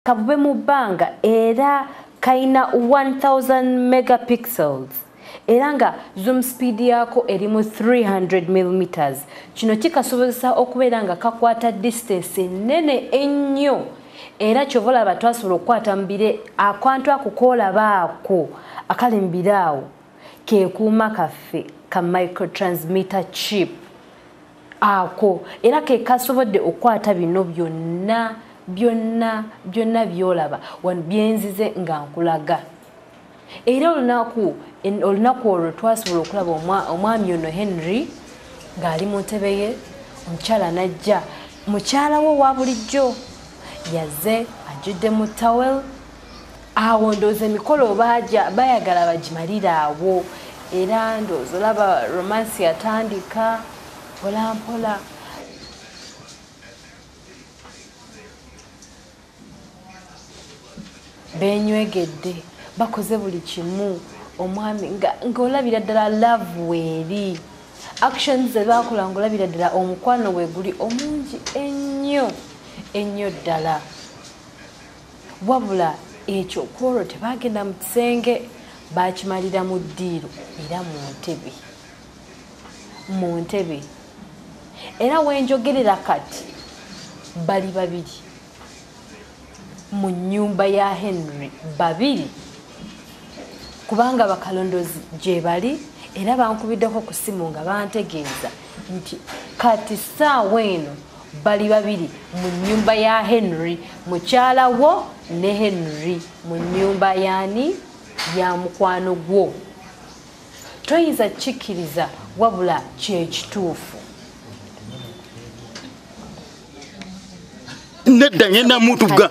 kabube mu bbanga era kalina 1000 megapixels era nga zoom speed yaako eri mu 300 millimeters kino kikasobozesa okubeera nga kakwata distance ennene ennyo era kyova olaba twasobola okukwata mubire akwantu akukoolaba ako akali mubire awo kekuuma kaffe ka microtransmitter chip ako era ke kasobodde okukwata bino byonna byonna byonna byolaba wano byenzize nga nkulaga era olunaku olunaku olwo twasobola okulaba omwami ono henry ng'ali mu ntebe ye omukyala najja mukyala wo wa bulijjo yaze ajjudde mu towel awo ndooza emikolo baaja bayagala bagimalire awo era ndooza olaba romansi yatandika mpolampola benywegedde bakoze buli kimu omwami ngaolabira ddala love weeri actions zebakola ngaolabira ddala omukwano weguli omungi ennyo ennyo ddala wabula ekyo kwolwo tebagenda mu kisenge bakimalira mu ddiiro era mu ntebe mu ntebe era wenjogerera kati bali babiri mu nyumba ya henry babiri kubanga bakalondozi gyebali era bankubiddeko ku simu nga bantegeeza nti kati saawa eno bali babiri mu nyumba ya henry mukyala wo ne henry mu nyumba yani ya mukwano gwo toyinza kikkiriza wabula kyekituufu nedda ngenda mutuga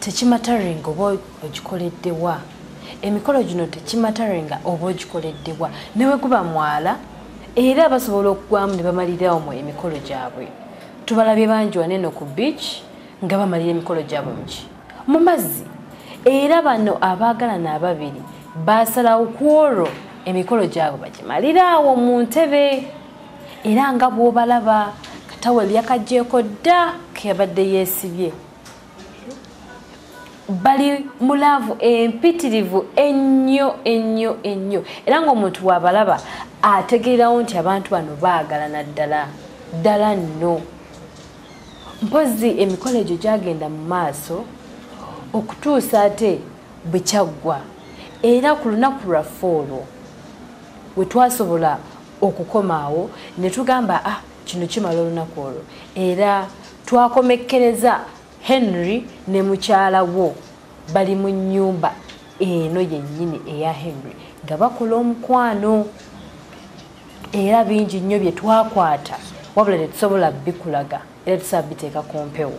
tekimataringa oba ogikoleddewa emikolo gino tekimataringa oba ogikoleddewa newe guba mwala era basobola okugwamu ne bamalirawo mu emikolo gyabwe tubalabye bangi waneno ku beach nga bamalira emikolo gyabwe muki mu mazzi era bano abaagalana ababiri basalawo ku olwo emikolo gyabwe bagimalira awo mu ntebe era nga bwobalaba katawel yakajjeeko dda keyabadde yeesibye bali mu laavu empitirivu ennyo ennyo ennyo era ng'omuntu waabalaba ategeerawo nti abantu bano baagalana ddala ddala nno mpozzi emikolo egyo gyagenda mu maaso okutuusa ate bwe kyaggwa era ku lunaku lwaffe olwo we twasobola okukoma awo ne tugamba ah kino kimala olunaku olwo era twakomekkereza henry ne mukyala wo bali mu nnyumba eno yennyini eya henry nga bakola omukwano era bingi nnyo bye twakwata wabula tetusobola bikulaga era tusaba biteeka ku mpewo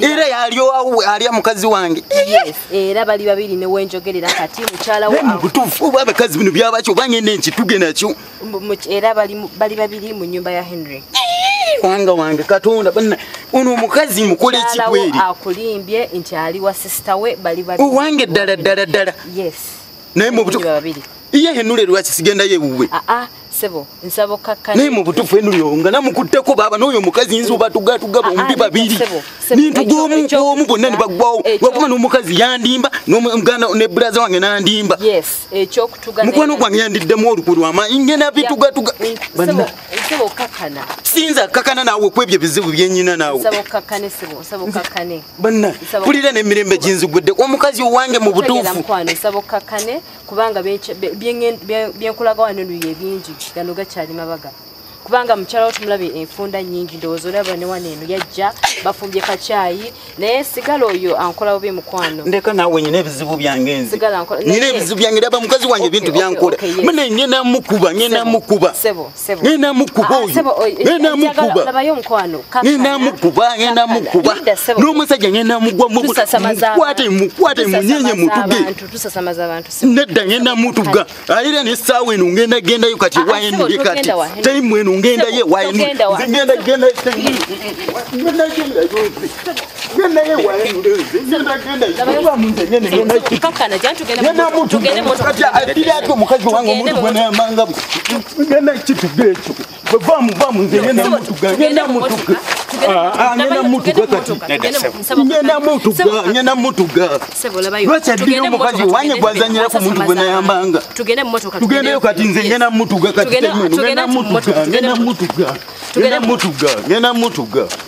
era yalyowawo alya mukazi wange era bali babiri newenjogerera kati mukyalawobutuufu oba abakazi bino byabakyo bangenda enkituge nakyo era bali babiri mu nyumba ya henry wanga wange katonda bana ono omukazi mukole ekikweri akulimbye nti ali wa sisita we bali owange ddala ddala ddala naye mubutuufu iye henule lwaki sigendayo ewuwe ah, ah. sebo nsaba okkakkana naye mu butuufu enuyo nga namukutteko baaba n'oyo omukazi nzi obatugatuga ah, ah, bombi babiri nintu gwomu bonna ne baggwawo wakuba n'omukazi yandimba nomuganda ne bulaza wange nandimba mukwano gwange yandiddemu olukwe lwamaanyi ngena bitugatuga sinza kakana naawe kwebyo ebizibu byenyina naawe banna kulira n'emirembe ginzigwedde omukazi owange mu butuufu kubanga byenkulaga wano eno ye bingi gano gakyali mabaga kubanga mukyala wo tumulabye enfunda nyingi ndowooza olaba ne wano eno yajja bafumbye kakyayi naye sigala oyo ankola bubi mukwano ndeka naawe nyina ebizibu byange nzi nyina ebizibu byange ndaba mukazi wange ebintu byankola mune ngenamukuba ngenamukuba sebo ngenda mukuba ah, oyongenda eh, eh, mukuba ngenda mukuba n'omusajja ngenda mugwamukwate mukwate munyenye mutuge nedda ngenda mutuga ayira nesaawa eno ngenda gendayo kati ah, ah, wayenuli kati taimu eno ngendayo wayenuli omukazi wange omuntu gwenayamanga genda kituga ekyo bwevamuvamunze genda mutuga genda mutuga ngenda mutuga kati ngenda mutuga ngenda mutuga lwaki addira omukazi wange gwazanyira ku muntu gwe nayambanga tugendeyo kati nze ngenda mutuga kati ngenda mutuga ngenda mutuga ngenda mutuga ngenda mutuga